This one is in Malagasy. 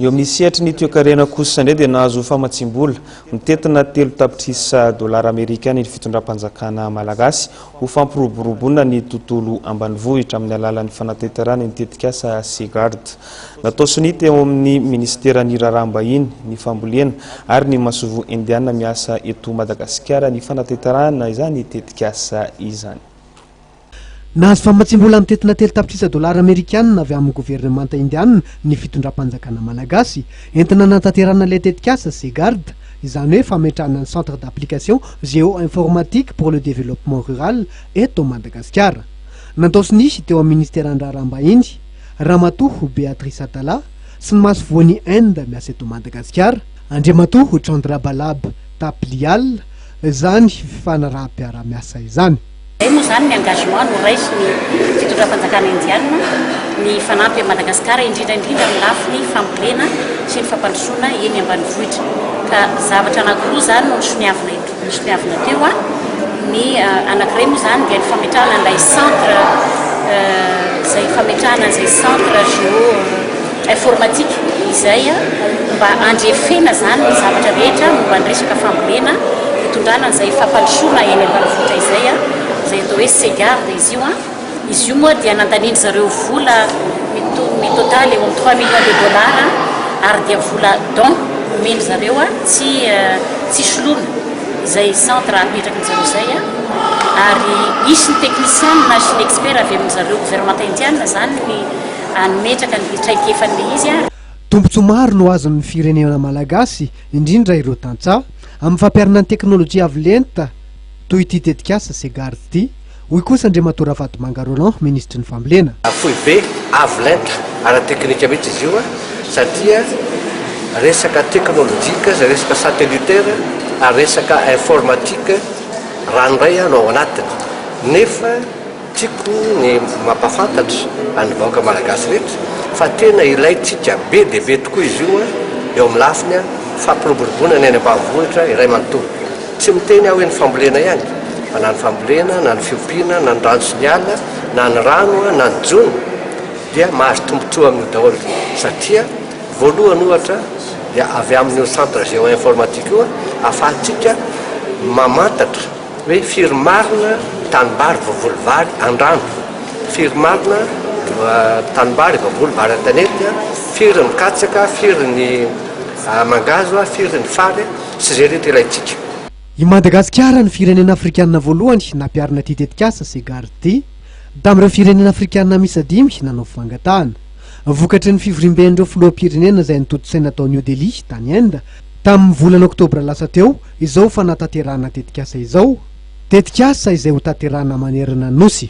Eo amin'ny sehatry ny toekarena kosa indray dia nahazo famatsiam-bola mitentina telo tapitrisa dolara amerikana ny fitondram-panjakana malagasy ho fampiroboroboana ny tontolo ambanivohitra amin'ny alalan'ny fanatanterahana ny tetikasa Seagard natao sonia teo amin'ny minisiteran'ny raharaham-bahiny, ny fambolena ary ny masoivoho indiana miasa eto Madagasikara ny fanatanterahana izany tetikasa izany. Nahazo famatsiam-bola mitentina telo tapitrisa dolara amerikana avy amin'ny governemanta indiana ny fitondram-panjakana malagasy, entina hanatanterahana ilay tetikasa CGARD, izany hoe fametrahana ny Centre d'application géo-informatique pour le développement rural eto Madagasikara. Natao sy nisy teo amin'ny minisiteran'ny Raharaham-bahiny, Ramatoa Béatrice Atala, sy ny masoivohon'i Inde miasa eto Madagasikara, Andriamatoa Chandra Balab Thapliyal, izany fifanaraham-piarahamiasa izany. Izay moa izany ny engagement noraisin'ny fitondram-panjakana Indiana ny hifanampy amin'i Madagasikara, indrindra indrindra amin'ny lafiny fambolena sy ny fampandrosoana eny ambanivohitra. Ka zavatra anankiroa izany no nisoniavina eto, nisoniavina teo. Ny anankiray moa izany dia ny fametrahana an'ilay centre, izay fametrahana an'izay centre géo. informatique izay mba handrefena izany ny zavatra rehetra momba ny resaka fambolena, fitondrana izay fampandrosoana eny ambanivohitra izay, izay atao hoe Segarde izy io. Izy io moa dia nandanian-dry zareo vola mi-total eo amin'ny trois millions de dollars ary dia vola don omen-dry zareo tsy tsy soloina izay centre apetrakin-dry zareo izay. Ary hisy ny techniciens sy ny experts avy amin-dry zareo governemanta indiana izany ny hametraka ny fitraikefan'ilay izy ary. Tombontsoa maro no azon'ny firenena malagasy, indrindra ireo tantsaha, amin'ny fampiharana ny teknolojia avo lenta toy ity tetikasa Cegars ity, hoy kosa Andriamatoa Ravatomanga Roland, minisitry ny Fambolena. Foibe avo lenta ara-teknika mihitsy izy io satria resaka teknolojika izay resaka satellitaire ary resaka informatique ranoray no ao anatiny nefa Tiako ny mampafantatra an'ny vahoaka malagasy rehetra fa tena ilaintsika be dia be tokoa izy io eo amin'ny lafiny fampiroboroboana ny any ambanivohitra iray manontolo. Tsy miteny aho hoe ny fambolena ihany fa na ny fambolena na ny fiompiana na ny rano sy ny ala na ny rano na ny jono dia mahazo tombontsoa amin'io daholo satria voalohany ohatra dia avy amin'io centre géoinformatique io ahafahantsika mamantatra Hoe firy marina tanimbary voavoly vary andrano, firy marina tanimbary voavoly vary an-tanety, firy ny katsaka, firy ny mangahazo, firy ny fary sy izay rehetra ilaintsika. I Madagasikara no firenena afrikanina voalohany nampiharina ity tetikasa Segar ity, tamin'ireo firenena afrikanina miisa dimy nanao fangatahana. Vokatry ny fivoriamben'ireo filoham-pirenena izay nitontosaina tao New Delhi, tany Inde, Tamin'ny volana oktobra lasa teo izao fanatanterahana tetikasa izao, tetikasa izay hotanterahina manerana ny Nosy.